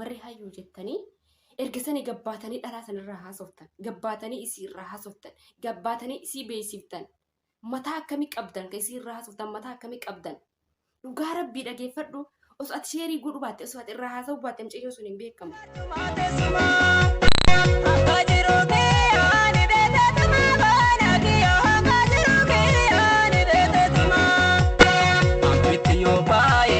warri hayyuu jettanii erga sani gabbaatanii dhalaa sanirraa haasoftan gabbaatanii isii irraa haasoftan gabbaatanii isii beeksiftan mataa akkamii qabdan kan isii irraa haasoftan mataa akkamii qabdan dhugaa rabbii dhageeffadhu osoo ati sheerii godhu baatte osoo ati irraa haasa'u baatte mucayyoo sun hin beekamu. Thank you.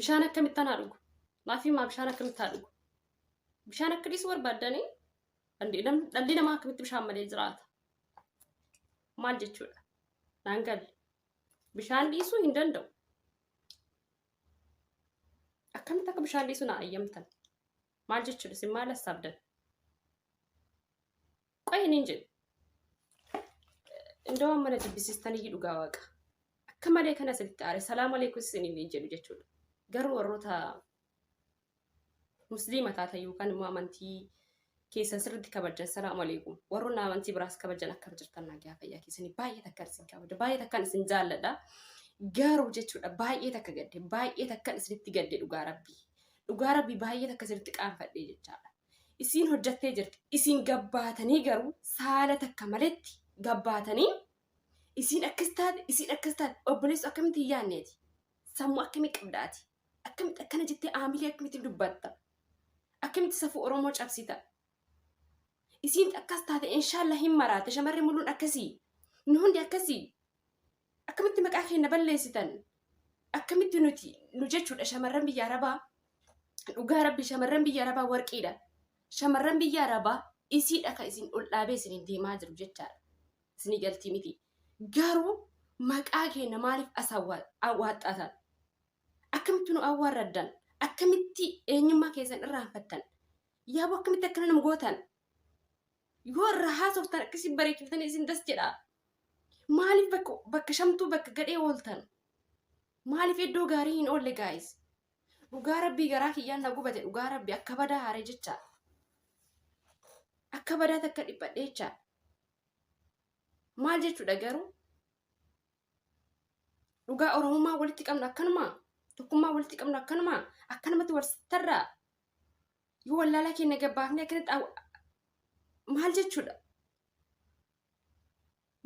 Bishaan akkamittan haa dhugu? Maafii maa bishaan akkamitti haa dhugu? Bishaan akka dhiisu barbaaddanii dhalli namaa akkamitti bishaan malee jiraata? Maal jechuudha? Naan galle. Bishaan dhiisuu hin danda'u. Akkamitti akka bishaan dhiisu naa ayyamtan? Maal jechuudha? Isin maal hassaabdan? Qoy hin hin jedhu. Indoo mana jibbisiistan iyyuu dhugaa waaqa. Akka malee kana sirriitti aare salaam aleekum isiniin hin jedhu jechuudha. Garuu warroota musliima taatan yookaan immoo amantii keessan sirriitti kabajan salaam aleekum. Warroonni amantii biraas kabajan akkam jirtan nagaa fayyaa keessanii baay'ee takkaan isin kabaja baay'ee takkaan isin jaalladha. Garuu jechuudha baay'ee takka gadde baay'ee takkaan isinitti gadde dhugaa rabbii. Dhugaa rabbii baay'ee takka isinitti qaanfadhee jechaadha. isiin hojjattee jirti isiin gabbaatanii garuu saala takka maletti gabbaatanii isiin akkas taate isiin akkas taate obboleessu akkamitti hin yaanneeti sammuu akkamii qabdaati akkamitti akkana jettee aamilee akkamitti dubbatta akkamitti safuu oromoo cabsita isiin akkas taate inshaallah hin maraate shamarri muluun akkasii nu hundi akkasii akkamitti maqaa keenya balleessitan akkamitti nuti nu jechuudha shamarran biyya arabaa dhugaa rabbi shamarran biyya arabaa warqiidha shamarran biyya arabaa isiidha kan isin ol dhaabee isiniin deemaa jiru jechaadha isinii galtii miti garuu maqaa keenya maaliif as awwaaxxatan akkamitti nu awwaarraddan akkamitti eenyummaa keessan irraanfattan yaaboo akkamitti akkana nama gootan yoo irraa haasoftan akkasii bareechiftanii isin das jedha maaliif bakka bakka shamtuu bakka gadhee ooltan maaliif iddoo gaarii hin oolle gaayis dhugaa rabbii garaa kiyyaan na gubate dhugaa rabbii akka badaa haare jecha akka badaa takka dhiphadhe jecha maal jechuudha garuu dhugaa oromummaa walitti qabnu akkanumaa tokkummaa walitti qabnu akkanumaa akkanumatti wal tarraa Yoo wallaalaa keenya gabbaafnee akkanatti aw- maal jechuudha?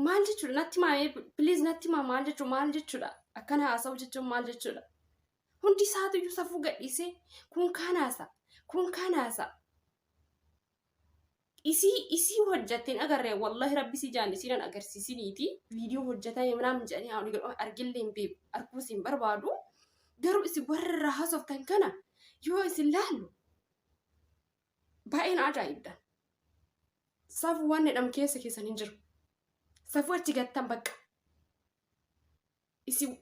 Maal jechuudha? Natti maamee please natti maa maal jechuudha? Maal jechuudha? Akkana haasa'u jechuun maal jechuudha? Hundi isaatu iyyuu safuu gadhiisee kun kaan haasa kun kaan haasa. Isii isii hojjatte hin agarre wallahi rabbi si jaan isiin an agarsiisiniiti viidiyoo hojjatame manaam jedhanii ani jedhu argillee hin beeku arguu isin barbaadu garuu isin warra irraa haasoftan kana yoo isin laalu baay'een ajaa'ibda safu waan jedhamu keessa keessan hin jiru safu achi gattan bakka isin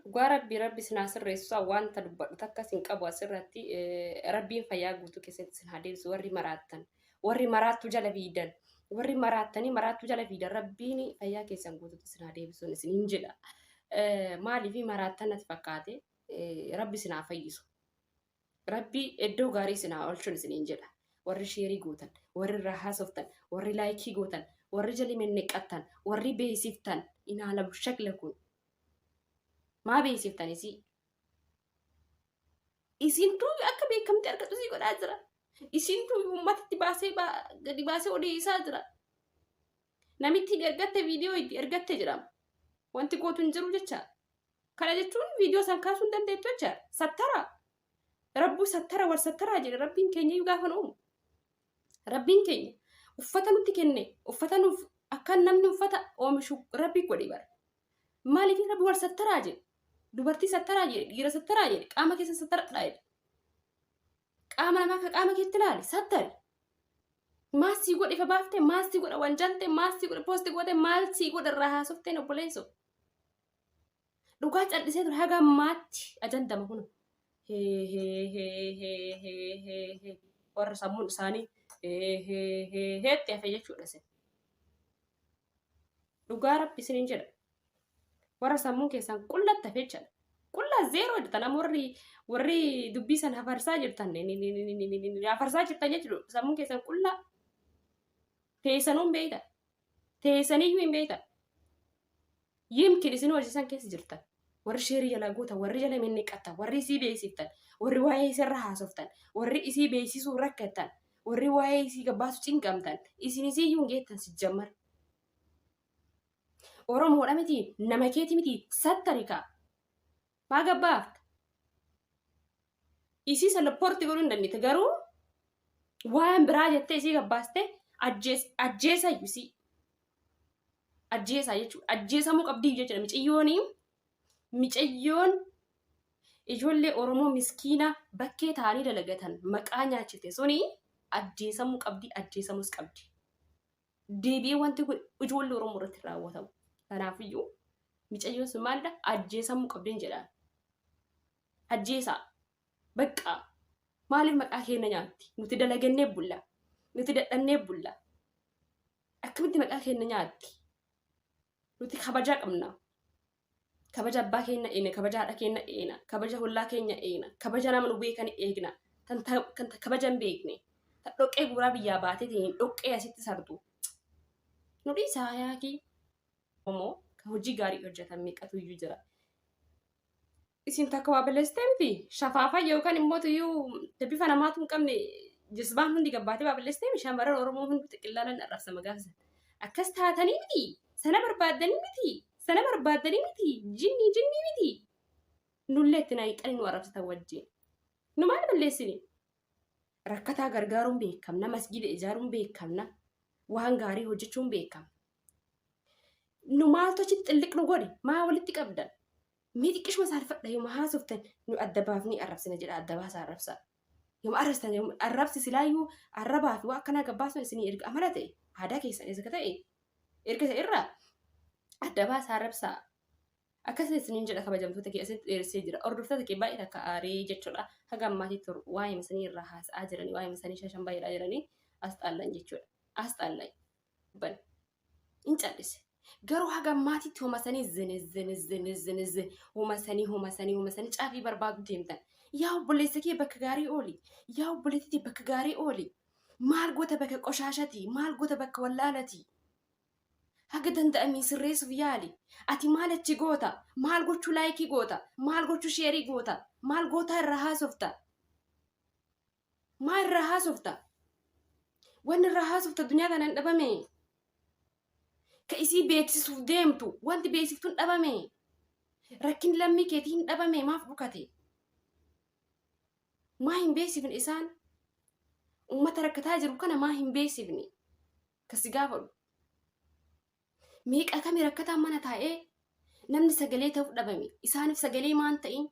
Dhugaa rabbii rabbi isin haa sirreessu isaa wanta dubbadhu takka isin qabu asirratti eh, rabbiin fayyaa guutuu keessatti isin haa deebisu warri maraattan warri maraattuu jala fiidan warri maraattanii maraattuu jala fiidan rabbiin fayyaa keessan guutuutti isin haa deebisuun isin hin jedha Eh, maaliif maraattan natti fakkaate eh, rabbi isin haa fayyisu Rabbi iddoo gaarii isin haa oolchuun isiniin jedha. Warri sheerii gootan, warri irraa haasoftan, warri laayikii gootan, warri jali menneqqattan, warri beeksiftan inaalamu shakla kun. Maa beeksiftan isii? Isin duubi akka beekamtii argatu isii godhaa jira. Isin duubi uummatatti baasee baa- gadi baasee odeessaa jira. Namittiin ergatte viidiyoo itti ergatte jedhama. Wanti gootu hin jiru jecha. Kana jechuun viidiyoo san kaasuu hin dandeettu jecha. Sattara. Rabbuu sattara wal sattaraa jedhe rabbiin keenya iyyuu gaafa nu uumu. Rabbiin keenya uffata nutti kenne uffata nuuf akka namni uffata oomishu rabbi godhe bara. Maaliif rabbi wal sattaraa jedhe? Dubartii sattaraa jedhe dhiira sattaraa jedhe qaama keessa sattaradhaa jedhe. qaama namaa ka qaama keetti ilaali sattari maal sii godhe ifa baafte maal sii godhe wanjalte maal sii godhe poosti goote maal sii godhe irraa haasofteen obboleesso dhugaa callisee ture haga ammaatti ajandama kun warra sammuun isaanii heetti hafe jechuudha sin dhugaa rabbi isinin jedha warra sammuun keessan qullatta fecha qullaa zeeroo jirtan amma warri warri dubbii san hafarsaa jirtan hafarsaa jirtan jechuudha sammuun keessan qullaa teessanuun beeyta teessaniyyuu hin beeyta Yimkin isin hojisan keessa jirtan warri sheerii jalaa gootan warri jala minniqqattan warri isii beeksiftan warri waa'ee isirra haasoftan warri isii beeksisuu rakkattan warri waa'ee isii gabbaasu cinqamtan isin isii yuun geettan sijjammar. Oromoodha miti nama keeti miti sattarikaa. Baga baafta. Isii san lapporti godhuu hin dandeette garuu waan biraa jettee isii gabbaaste ajjeesa isii. Ajjeesaa jechuudha. Ajjeesamuu qabdii jechuudha. Miciyyooni miciyyoon ijoollee Oromoo miskiina bakkee taa'anii dalagatan maqaa nyaachifte suni ajjeesamuu qabdi ajjeesamus qabdi. deebi'ee wanti kun ijoollee Oromoo irratti raawwatamu. Kanaafiyyuu micayyoon sun maalidha? Ajjeesamuu qabdeen jedhaan. Ajjeesaa. Baqqaa. Maaliif maqaa keenya nyaatti? Nuti dalagannee bulla. Nuti dadhabnee bulla. Akkamitti maqaa keenya nyaatti? Nuti kabajaa qabna. kabaja abbaa keenya eegna kabaja haadha keenya eegna kabaja hollaa keenya eegna kabaja nama nu beekan eegna kan ta- kan ta- kabaja hin beekne ta dhoqqee guuraa biyyaa baatee ta'een dhoqqee asitti sardu nu dhiisaa yaakii Oromoo kan hojii gaarii hojjetan meeqatu iyyuu jira isin takka waa balleessitee miti shafaafa yookaan immoo tuyyuu bifa namaatu hin qabne jisbaan hundi gabbaatee waa balleessitee miti shamarran oromoo hundi xiqillaanan arrabsama gaafa sana akkas taatanii miti sana barbaaddanii miti sana barbaaddanii miti jinnii jinnii miti nullee itti naayixanii nu arrabsatan wajjin nu maal balleessine rakkataa gargaaruun beekamna masgiida ijaaruun beekamna waan gaarii hojjechuun beekamna nu maaltu achitti xilliq nu godhe maa walitti qabdan Mee xiqqishuma saalfadha yooma haasoftan nu adda baafnee arrabsina jedha adda baasaa arrabsaa. Yooma arrabsitan yooma arrabsi silaayyuu arrabaa fi waa akkanaa gabbaasuun isinii erga amala ta'e aadaa keessan erga ta'e erga ta'e irraa adda baasaa arrabsaa. Akkasii isiniin jedha kabajamtoota kee asitti dheeressee jira. Hordoftoota kee baay'ee takka aaree jechuudha. Haga ammaatii tur waa'ee masanii irraa haasa'aa jiranii waa'ee masanii shashan baay'eedhaa jiranii as xaallan jechuudha. As xaallan. bane in callise garuu haga ammaatitti homa sanii zini zini zini zini zini homa sanii homa sanii homa sanii caafii barbaadu deemtan yaa obboleessa kee bakka gaarii ooli yaa obboleettitii bakka gaarii ooli maal goota bakka qoshaashati maal goota bakka wallaalati haga danda'amee sirreessuuf yaali ati maal achi goota maal gochuu laayikii goota maal gochuu sheerii goota maal gootaa irraa haasofta Maa irraa haasofta? Wanni irraa haasofta duniyaa tana hin dhabame. Ka isii beeksisuuf deemtu wanti beeksiftu hin dhabame. Rakkin lammii keetii hin dhabame maaf dhukate? Maa hin beeksifne isaan? Uummata rakkataa jiru kana maa hin beeksifne? Ka si gaafadhu. Meeqa kami rakkataan mana taa'ee namni sagalee ta'uuf dhabame isaaniif sagalee maan ta'in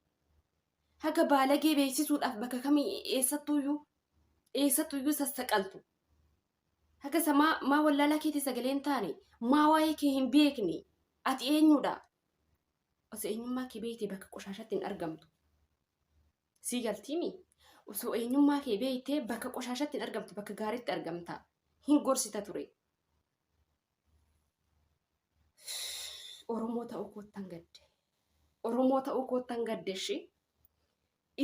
haga baalagee beeksisuudhaaf bakka kamii eessattuuyyuu eessattuuyyuu sassaqaltu haga isa maa maa wallaalaa keetii sagalee hin taane maa waa'ee kee hin beekne ati eenyudha osoo eenyummaa kee beekte bakka qoshaashatti hin argamtu sii galtiimi osoo eenyummaa kee beekte bakka qoshaashatti hin argamtu bakka gaariitti argamta hin gorsita ture Oromoo ta'uu koottan gadde. Oromoo ta'uu koottan gadde ishee.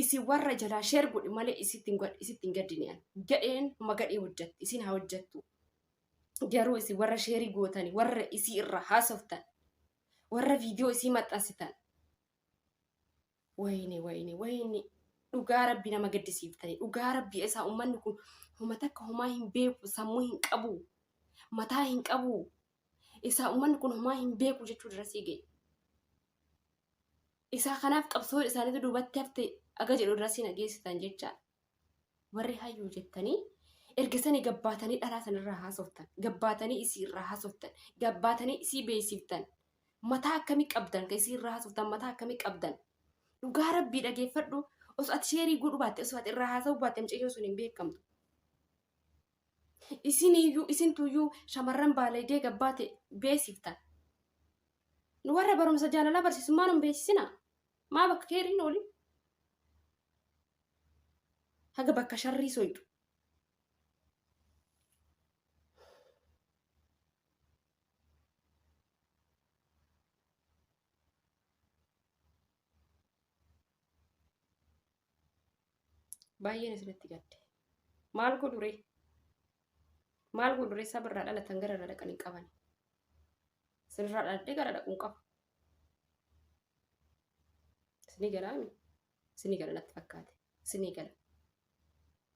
Isin warra jalaa sheer godhi malee isitti hin gad- isitti hin gaddine ani. Gadheen ma gadhee hojjatti isin haa hojjattu. Garuu isin warra sheerii gootani warra isii irraa haasoftan warra viidiyoo isii maxxansitan Wayne wayne wayne dhugaa rabbi nama gaddisiiftani dhugaa rabbi esaa ummanni kun homa takka homaa hin beeku sammuu hin qabu mataa hin qabu isaa ummanni kun homaa hin beeku jechuu dirasii ga'e. Isaa kanaaf qabsoon isaaniitu duubatti hafte aga jedhu dirasii na geessitan jechaadha. warri hayyuu jettanii erga sani gabbaatanii dhalaa sanirraa haasoftan gabbaatanii isii irraa haasoftan gabbaatanii isii beeksiftan mataa akkamii qabdan ka isii irraa haasoftan mataa akkamii qabdan dhugaa rabbii dhageeffadhu osoo ati sheerii godhu baatte osoo ati irraa haasa'u baatte mucayyoo sun hin beekamtu isiniyyuu isintuyyuu shamarran baalaydee gabbaate beeksiftan nu warra barumsa jaalalaa barsiisummaa nun beeksisina maa bakka keeriin oolin haga bakka sharrii soyxu baay'een isinitti gadde maal godhure maal godhure sabirraa dhalatan gara irra dhaqan hin qaban sirraa dhaladhee gara dhaquun qaba Isinii galaami? Isinii gala natti fakkaate. Isinii gala.